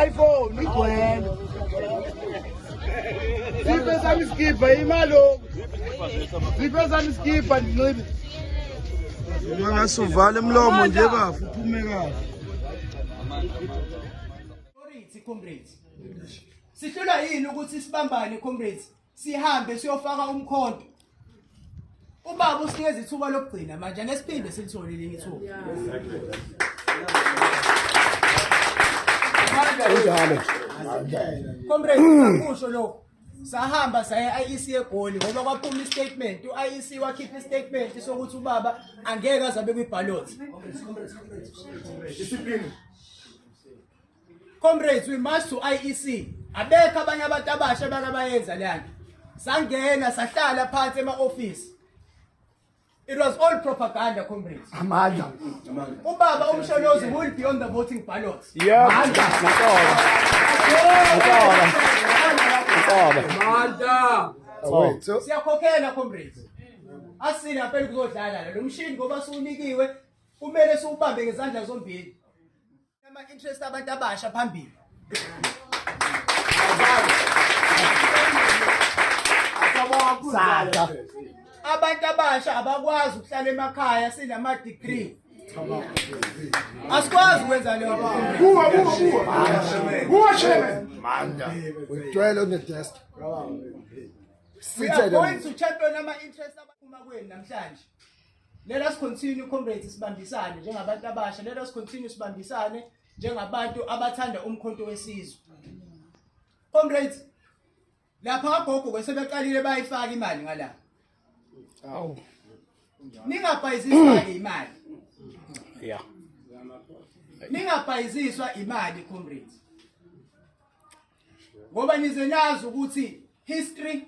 iPhone igcwele. Siphe sami isikibha imalo. Siphe sami isikibha ndinxibe. Ungasuvale umlomo nje bafu uphume kahle. Comrades. Sihlula yini ukuthi sibambane comrades? sihambe siyofaka umkhonto ubaba usinikeza ithuba lokugcina manje nesiphinde silithole elinye ithuba Unjalo. comrade sakusho lokho sahamba saya IEC egoli ngoba kwaphuma istatement uIEC wakhipha istatement sokuthi ubaba angeke azabe kwiballot Discipline. Comrades we march to IEC abekho abanye abantu abasha bakabayenza leyanto sangena sahlala phansi ema office It was all propaganda comrades. Amandla. Ubaba umsholozi will be on the voting ballot. Yeah. Amandla. Amandla. Amandla. Siyakhokhela comrades. Asile ngapela kuzodlala lo mshini ngoba siwunikiwe kumele siwubambe ngezandla zombili. Ama interest abantu abasha phambili. Sasa abantu abasha abakwazi ukuhlala emakhaya sinama degree. Asikwazi ukwenza leyo nto. Buwa buwa buwa. Buwa shebe. Manda. Udwele on the desk. Sithe. We are going to champion ama interest abaphuma kwenu namhlanje. Let us continue comrades sibambisane njengabantu abasha. Let us continue sibambisane njengabantu abathanda umkhonto wesizwe. Comrades lapha agogo kwesebeqalile bayifaka imali ngala. Awu. Ningabhayiziswa imali. Yeah. Ningabhayiziswa imali comrades. Ngoba nize nazi ukuthi history